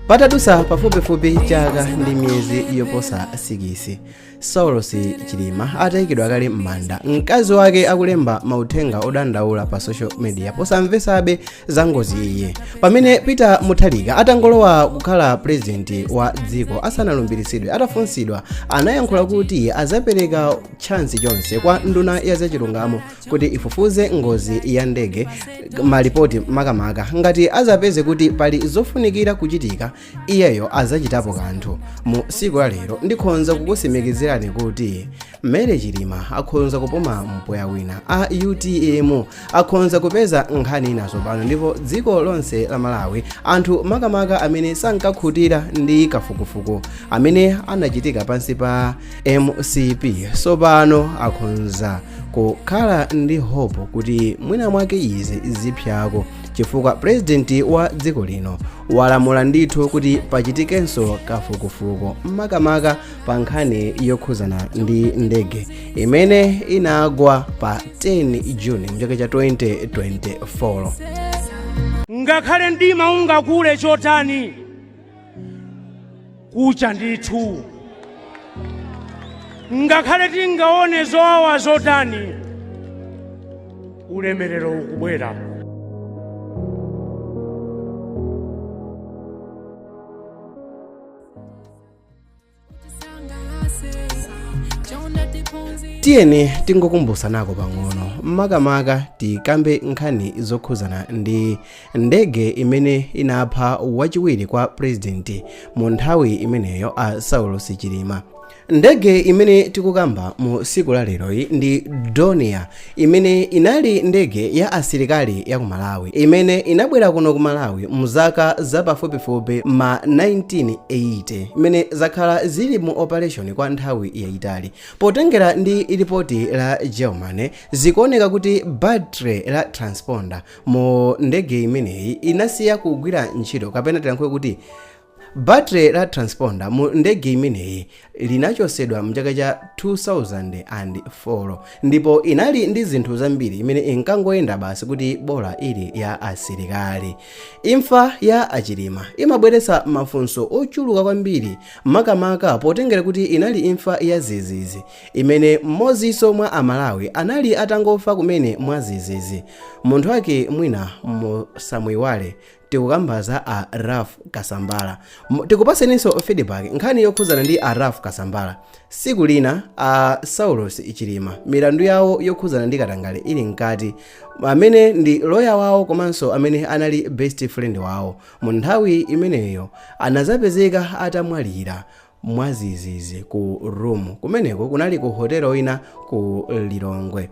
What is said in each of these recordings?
patadutsa pafupifupi chaka ndi miyezi yoposa 6 saulos chilima atayikidwa kale m'manda mkazi wake akulemba mauthenga odandaula pa social media posamvetsabe za ngozi ija pamene peter mutharika atangolowa kukhala purezidenti wa dziko asanalumbiritsidwe atafunsidwa anayankhula kuti azapereka tchansi chonse kwa nduna ya zachilungamo kuti ifufuze ngozi ya ndege malipoti makamaka ngati azapeze kuti pali zofunikira kuchitika iyeyo azachitapo kanthu mu siku la lero ndikhonza kukusimikizirani kuti Mary chilima akhonza kupuma mpweya wina a utm akhonza kupeza nkhani ina sopano ndipo dziko lonse la malawi anthu makamaka amene sankakhutira ndi kafukufuku amene anachitika pansi pa mcp sopano akhonza kukhala ndi hope kuti mwina mwake izi zipsako chifukwa purezidenti wa dziko lino walamula ndithu kuti pachitikenso kafukufuku makamaka pa nkhani yokhuzana ndi ndege imene inagwa pa 10 juni mchaka cha 2024 ngakhale mdima ungakule chotani kucha ndithu ngakhale tingaone zowawa zotani ulemerero ukubwera tiyeni tingokumbusanako pang'ono makamaka tikambe nkhani zokhuzana ndi ndege imene inapha wachiwiri kwa purezidenti mu nthawi imeneyo a saulos chilima ndege imene tikukamba mu tsiku la leroyi ndi Dornier imene inali ndege ya asilikali ya ku malawi imene inabwera kuno ku malawi mu zaka za pafupifupi ma 1980 imene zakhala zili mu operation kwa nthawi yayitali potengera ndi ripoti la germany zikuoneka kuti battery la transponder mu ndege imeneyi inasiya kugwira ntchito kapena tilankhule kuti battery la transponder mu ndege imeneyi linachosedwa mchaka cha 2004 ndipo inali ndi zinthu zambiri imene inkangoyenda basi kuti bola ili ya asilikali imfa ya achilima imabweretsa mafunso ochuluka kwambiri makamaka potengera kuti inali imfa ya zizizi imene mmodzinso mwa a Malawi anali atangofa kumene mwadzidzidzi munthu wake mwina musamuiwale tikukamba za a Ralph Kasambala tikupaseninso feedback nkhani yokhudzana ndi a Ralph Kasambala siku lina a Saulos Chilima milandu yawo yokhudzana ndi katangale ili mkati amene ndi loya wawo komanso amene anali best friend wawo mu nthawi imeneyo anazapezeka atamwalira mwazizizi ku room kumeneko kunali ku hotelo ina ku lilongwe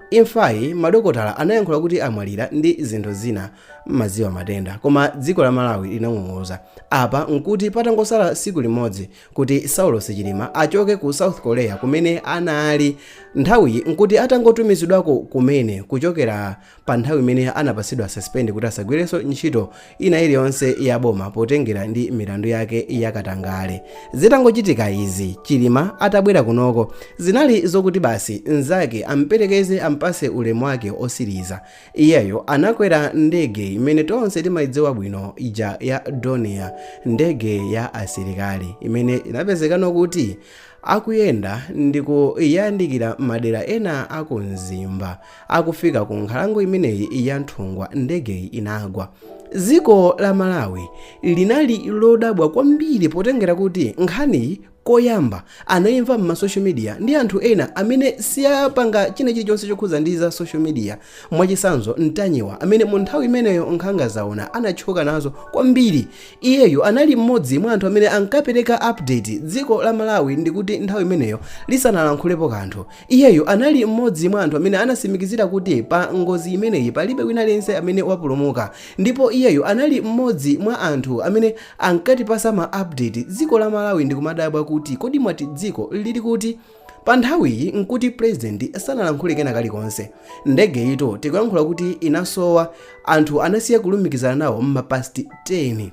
imfayi madokotala anayankhula kuti amwalira ndi zinthu zina maziwa matenda koma dziko la malawi linang'ung'uza apa nkuti patangosala siku limodzi kuti saulos chilima achoke ku south korea kumene anali nthawiyi nkuti atangotumizidwako kumene kuchokera pa nthawi imene anapatsidwa suspend kuti asagwirenso ntchito ina iliyonse ya boma potengera ndi milandu yake ya katangale zitangochitika izi chilima atabwera kunoko zinali zokuti basi nzake amperekeze ampatse ulemu wake osiriza iyeyo anakwera ndege imene tonse timayidziwa bwino ija ya donia ndege ya asilikali imene inapezekano kuti akuyenda ndikuyandikira madera ena akumzimba akufika ku nkhalango imeneyi ya nthungwa ndegeyi inagwa dziko la malawi linali lodabwa kwambiri potengera kuti nkhaniyi koyamba anayimva m'ma social media ndi anthu ena amene siyapanga china chilichonse chokhuza ndi za social media mwachisanzo ntanyiwa amene mu nthawi imeneyo nkhanga zaona anatchuka nazo kwambiri iyeyo anali mmodzi mwa anthu amene ankapereka update dziko la malawi nkuti nthawi imeneyo lisanalankhulepo kanthu Iyeyo anali mmodzi mwa anthu amene anatsimikizira kuti pa ngozi imeneyi palibe wina aliyense amene wapulumuka ndipo iyeyo anali mmodzi mwa anthu amene ankatipasa ma update dziko la Malawi ndikumadabwa kuti kodi mwati dziko lili kuti? Pa nthawiyi nkuti president sanalankhule kena kalikonse. Ndegeyitu tikuyankhula kuti inasowa, anthu anasiya kulumikizana nawo mma past 10.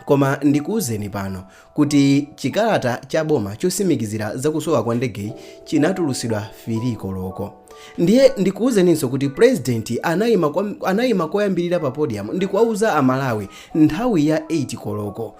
Koma ndikuuzeni pano kuti chikalata cha boma chosimikizira zakusowa kwa ndegeyi chinatulusidwa 3 koloko. Ndiye ndikuuzeninso kuti president anayima koyambirira pa podium ndikuwauza amalawi nthawi ya 8 koloko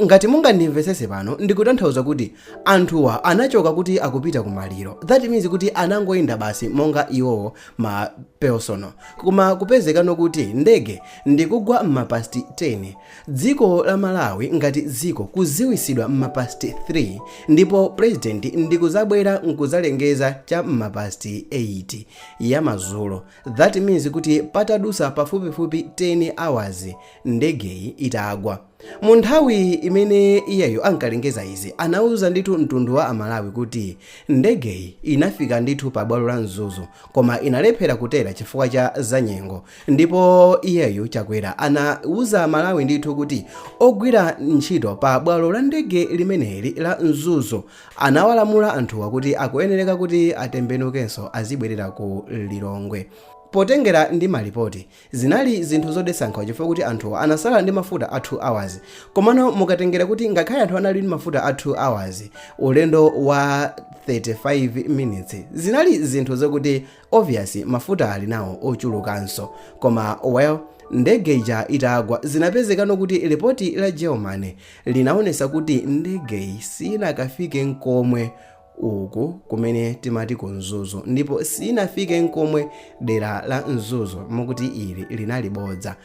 ngati mungandimvesese pano ndikutanthauza kuti anthuwa anachoka kuti akupita ku maliro that means kuti anangoyenda basi monga iwowo ma personal koma kupezekano kuti ndege Ndikugwa mma past 10 dziko la Malawi ngati dziko kuziwisidwa mma past 3 ndipo president ndikuzabwera nkuzalengeza cha mma past 8 ya madzulo that means kuti patadusa pafupifupi 10 hours ndegeyi itagwa. Mu nthawi imene iyeyo ankalengeza izi anauza ndithu mtundu wa a Malawi kuti ndegeyi inafika ndithu pa bwalo la Mzuzu koma inalephera kutera chifukwa cha za nyengo Ndipo iyeyu Chakwera anawuza Amalawi ndithu kuti ogwira ntchito pa bwalo la ndege limeneli la Mzuzu anawalamula anthuwa kuti akuyenereka kuti atembenukenso azibwerera ku Lilongwe. Potengera ndi malipoti, zinali zinthu zodetsa nkhawa chifukwa kuti anthuwa anasala ndi mafuta a 2 hours. Komano mukatengera kuti ngakhale anthu anali ndi mafuta a 2 hours, ulendo wa 35 minutes, zinali zinthu zokuti obvious mafuta ali nawo ochulukanso koma well ndege ija itagwa zinapezekano kuti lipoti la germany linaonesa kuti ndegeyi sinakafike nkomwe uku kumene timati ku mzuzu ndipo sinafike nkomwe dera la mzuzu mukuti ili linali bodza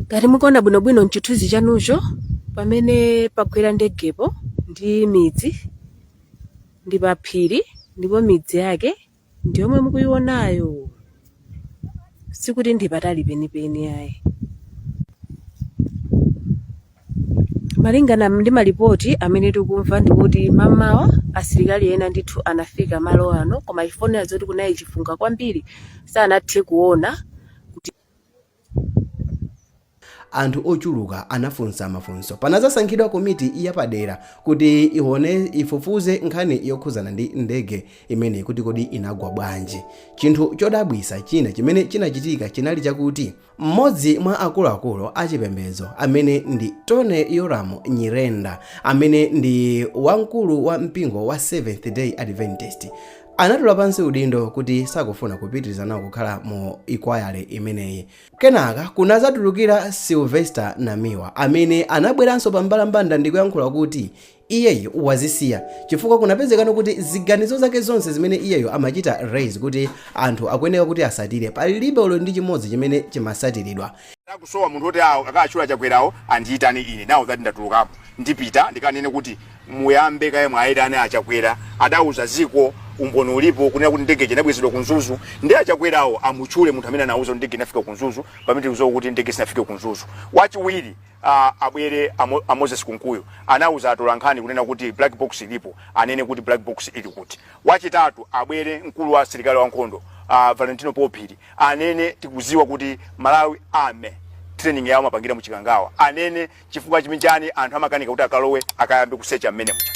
ngati mukuona bwinobwino mchithunzi chanucho pamene pagwera ndegepo ndi midzi ndi pa phiri ndipo midzi yake ndi yomwe mukuionayo sikuti ndi patali penipeni ayi malingana ndi malipoti amene tikumva ndikuti mamawa asilikali ena ndithu anafika malo ano koma chifukwa choti kunali chifunga kwambiri sanathe kuona kuti Anthu ochuluka anafunsa mafunso. Panazasankhidwa komiti yapadera kuti ifufuze nkhani yokhuzana ndi ndege imeneyi kuti kodi inagwa bwanji. Chinthu chodabwisa china chimene chinachitika chinali chakuti m'modzi mwa akuluakulu achipembedzo amene ndi Tony Yolamu Nyirenda amene ndi wamkulu wa mpingo wa Seventh Day Adventist anatula pansi udindo kuti sakufuna kupitiriza nawo kukhala mu inquiry imeneyi kenaka kunazatulukira sylvester namiwa amene anabweranso pa mbalambanda ndi kuyankhula kuti iyeyo wazisiya chifukwa kunapezekano kuti ziganizo zake zonse zimene iyeyo amachita raise kuti anthu akuyeneka kuti asatire palibe olo ndi chimodzi chimene chimasatiridwa akusowa munthu oti awo akachula chakwerawo andiyitane ine nawo zati ndatulukapo ndipita ndikanene kuti muyambe kaye mwaitane achakwera adauza ziko umboni ulipo kunena kuti ndege inabwezedwa kumzuzu ndi achakwerawo amutchule munthu amene anauza kuti ndege inafika kumzuzu pamene tikuziwa kuti ndege sinafike kumzuzu wachiwiri ah, abwere Amo- a moses kunkuyu anauza atolankhani kunena kuti black box ilipo anene kuti black box ili kuti wachitatu abwere mkulu wa asilikali wankhondo uh, valentino phiri anene tikuziwa kuti malawi army training yawo amapangira muchikangawa anene Chifukwa chimchani anthu amakanika kuti akalowe akayambe kusecha mmene muja?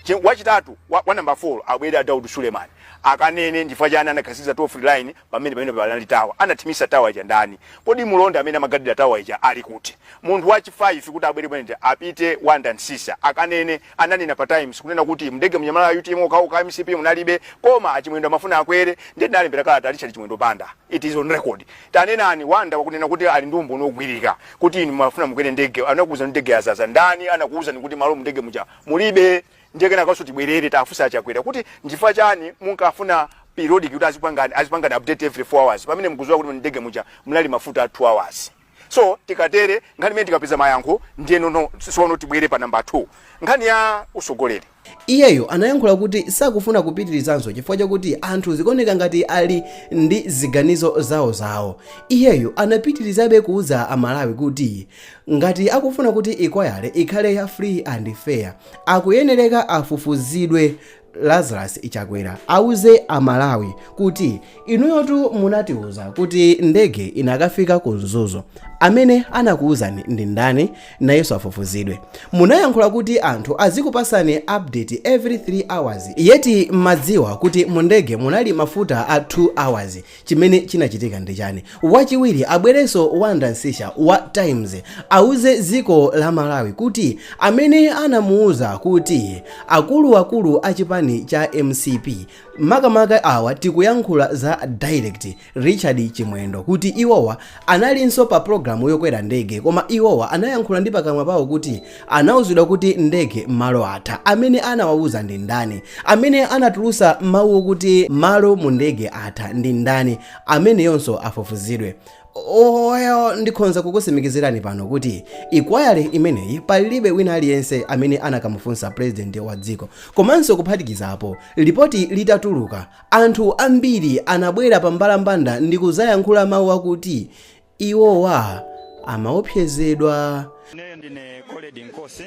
Ch, wachitatu, wa, wa number 4 abwere a Daud Suleman akanene ndifukwa chani anakhazikitsa toll free line pamene pamenepo panali tower? Anathimisa tower ija ndani? Kodi mulonda amene amagadila tower ija ali kuti? Munthu wa chi 5 kuti abwere kumenekuja apite Wonder Msiska akanene ananena pa Times kunena kuti mndege muja munali a UTM okhaokha a MCP munalibe koma a Chimwendo amafuna akwere ndiye tinalembera kalata a Richard Chimwendo Banda it is on record. Tanenani Wonder wakunena kuti ali ndi umboni ogwirika. kuti inu mumafuna mukwere ndege anakuwuzani ndege yazaza ndani anakuwuzani kuti malo mundege muja mulibe ndiye kenakanso tibwerere tafunsa achakwera kuti nchifukwa chani munkafuna periodic kuti azipangani update every 4 hours pamene mukuziwa kuti mundege muja munali mafuta a 2 hours so tikatere nkhani imene tikapeza mayankho ndiyeno sono tibwere pa namba 2 nkhani ya usogoleri Iyeyo anayankhula kuti sakufuna kupitirizanso chifukwa chakuti anthu zikuoneka ngati ali ndi ziganizo zawozawo. Iyeyo anapitirizabe kuuza a Malawi kuti ngati akufuna kuti inquiry ikhale ya free and fair akuyenereka afufuzidwe. Lazarus Chakwera auze a Malawi kuti inuyotu munatiuza kuti ndege inakafika ku Mzuzu. Amene anakuuzani ndi ndani? nayenso afufuzidwe munayankhula kuti anthu azikupasani update every 3 hours yet mumadziwa kuti mundege munali mafuta a 2 hours chimene chinachitika ndi chani wachiwiri abwerenso wonder msiska wa times auze ziko la malawi kuti amene anamuuza kuti akuluakulu a chipani cha mcp makamaka awa tikuyankhula za direct Richard Chimwendo kuti iwowa analinso pa pulogalamu yokwera ndege koma iwowa anayankhula ndi pakamwa pawo kuti anauzidwa kuti mndege malo atha. Amene anawauza ndi ndani? Amene anatulusa mawu okuti malo mu ndege atha ndi ndani? Ameneyonso afufuzidwe. Well, ndikhonza kukusimikizirani pano kuti inquiry imeneyi palibe wina aliyense amene anakamufunsa president wa dziko komanso kuphatikizapo lipoti litatuluka Anthu ambiri anabwera pambalambanda ndi kudzayankhula mawu akuti, Iwowa amaopsezedwa. Ineyo ndine Colrerd Nkosi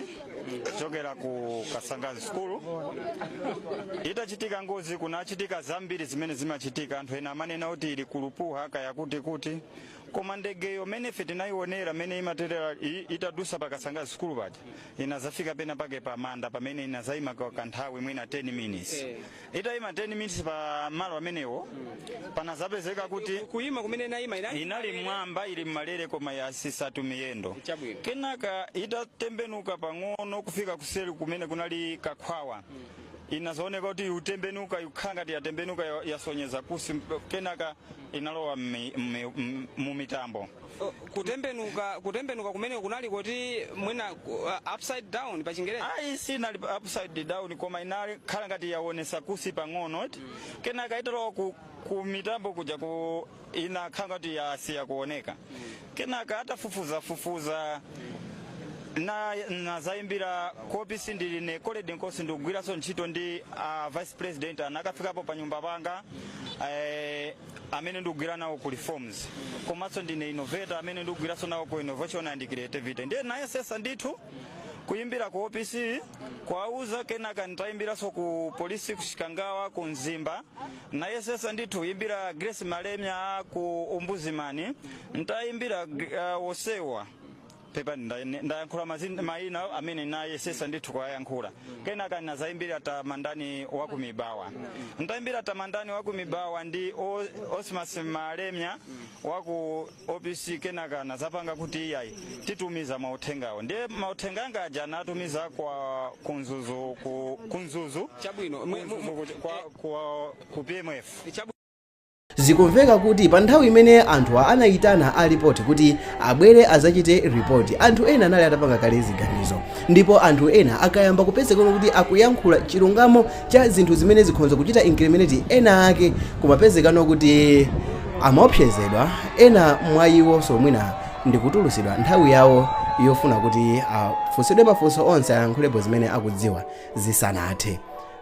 kuchokera ku Kasangazi School. Itachitika ngozi kunachitika zambiri zimene zimachitika. Anthu ena amanena kuti ili ku Lupuha kaya kuti kuti, koma ndegeyo mene ife tinayionera mene imaterera itadusa pa Kasangazi School paja inazafika pena pake pa manda pamene inazaima kwa kanthawi mwina 10 minutes itayima 10 minutes pa malo amenewo panazapezeka kuti kuyima kumene inali m'mwamba ili m'malere koma yatsitsatu miyendo kenaka itatembenuka pang'ono kufika kuseri kumene kunali kakhwawa inazaoneka kuti yatembenuka ikukhala ngati yatembenuka yasonyeza kunsi kenaka inalowa mu mitambo kutembenuka kutembenuka kumene kunali kuti mwina uh, upside down pa chingerezi ayi sinali pa- upside down koma inali kukhala ngati yawonesa kunsi pang'ono eti kenaka italowa ku, ku mitambo kuja ku inakhala ngati yasiya kuoneka kenaka nditafufuzafufuza na nazayimbira ku opc ndili ine colrerd nkosi ndikugwiranso ntchito ndi uh, vice president anakafikapo pa nyumba panga eh, amene ndikugwira nawo ku reforms komanso ndine innovator amene ndikugwiranso nawo ku innovation and creativity ndiye nayesesa ndithu kuyimbira ku opc kuwauza kenaka nditayimbiranso ku polisi ku chikangawa ku mzimba nayesesa ndithu kuyimbira grace malemya ku ombudsman nditayimbira uh, wosewa pepani nda- ndayankhula mazin- mayina amene nayesesa ndithu kuwayankhula kenaka ndinazayimbira tamandani wa ku mibawa ndayimbira tamandani wa ku mibawa ndi Cosmas malemya wa ku opc kenaka anazapanga kuti iyayi titumiza mauthengawo ndiye mauthenga anga aja anatumiza kwa ku Mzuzu ku, ku Mzuzu Chabwino, mwe- mu- mu- Ku Mzuzu ku- kwa, kwa, ku pmf Chabu- Zikumveka kuti pa nthawi imene anthu anaitana a lipoti kuti abwere adzachite ripoti, anthu ena anali atapanga kale ziganizo. Ndipo anthu ena akayamba kupezekano kuti akuyankhula chilungamo cha zinthu zimene zikhonza kuchita incriminate ena ake, kumapezekano kuti amaopsezedwa, ena mwa iwonso mwina ndi kutulutsidwa nthawi yawo yofuna kuti afunsidwe mafunso onse ayankhulepo zimene akudziwa zisanathe.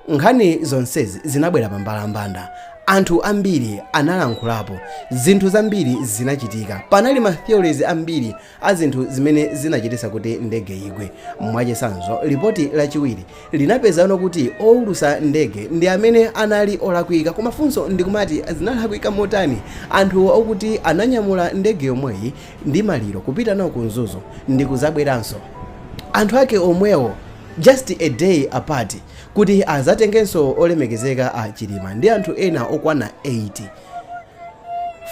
Nkhani zonsezi zinabwera pambalambanda. Anthu ambiri analankhulapo. Zinthu zambiri zinachitika. Panali ma theories ambiri a zinthu zimene zinachititsa kuti ndege igwe. Mwachitsanzo, lipoti lachiwiri linapezano kuti oulutsa ndege ndi amene anali olakwika. Koma funso ndi kumati zinalakwika motani? Anthu okuti ananyamula ndege yomweyi ndi maliro kupita nawo ku Mzuzu ndi kudzabweranso, anthu ake omwewo? Just a day apart kuti azatengenso olemekezeka a Chilima ndi anthu ena okwana 8.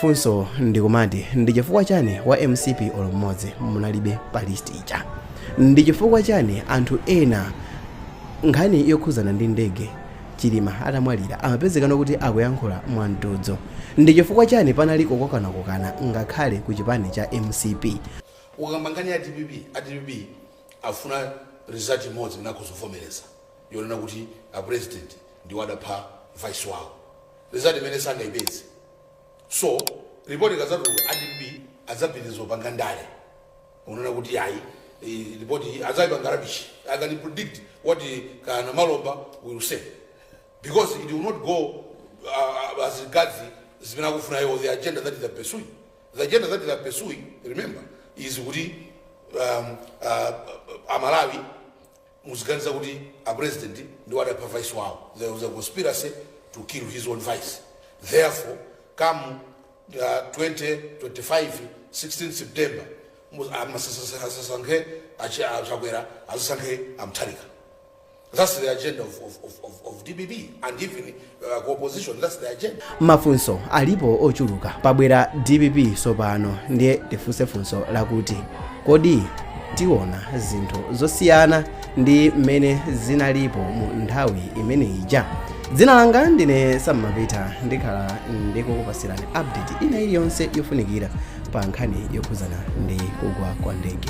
Funso ndikumati ndi chifukwa chani wa mcp olo mmodzi munalibe pa list ija? Ndi chifukwa chani anthu ena nkhani yokhuzana ndi ndege Chilima atamwalira amapezekano kuti akuyankhula mwa mtudzo? Ndi chifukwa chani panali kukokanakokana ngakhale ku chipani cha mcp? Ukamba nkhani ya dpp, a dpp afuna result imodzi imene akhoza kuvomereza yonena kuti a president ndiwo adapha vice wawo result imene sangaipeze so report ikadzatuluka dpp adzapitiriza kupanga ndale onena kuti ayi eh, report iyi adzaipanga rubbish i can predict what eh, kana malomba will say because it will not go uh, as regards zimene akufuna iwo the agenda that they are pursuing The agenda that they are pursuing remember is kuti um, uh, amalawi aziganiza kuti a president ndiwo adapha vice wawo there was a conspiracy to kill his own vice therefore come uh, 2025 16 september mu- asasankhe achakwera asankhe amtharika That's the agenda of, of, of, of, of DPP and even uh, opposition, that's the agenda. mafunso alipo ochuluka pabwera dpp sopano ndiye tifunse funso lakuti kodi tiona zinthu zosiyana ndi mmene zinalipo mu nthawi imene ija dzina langa ndine Sam Mapita ndikhala ndikukupasirani update ina iliyonse yofunikira pa nkhani yokhuzana ndi kugwa kwa ndege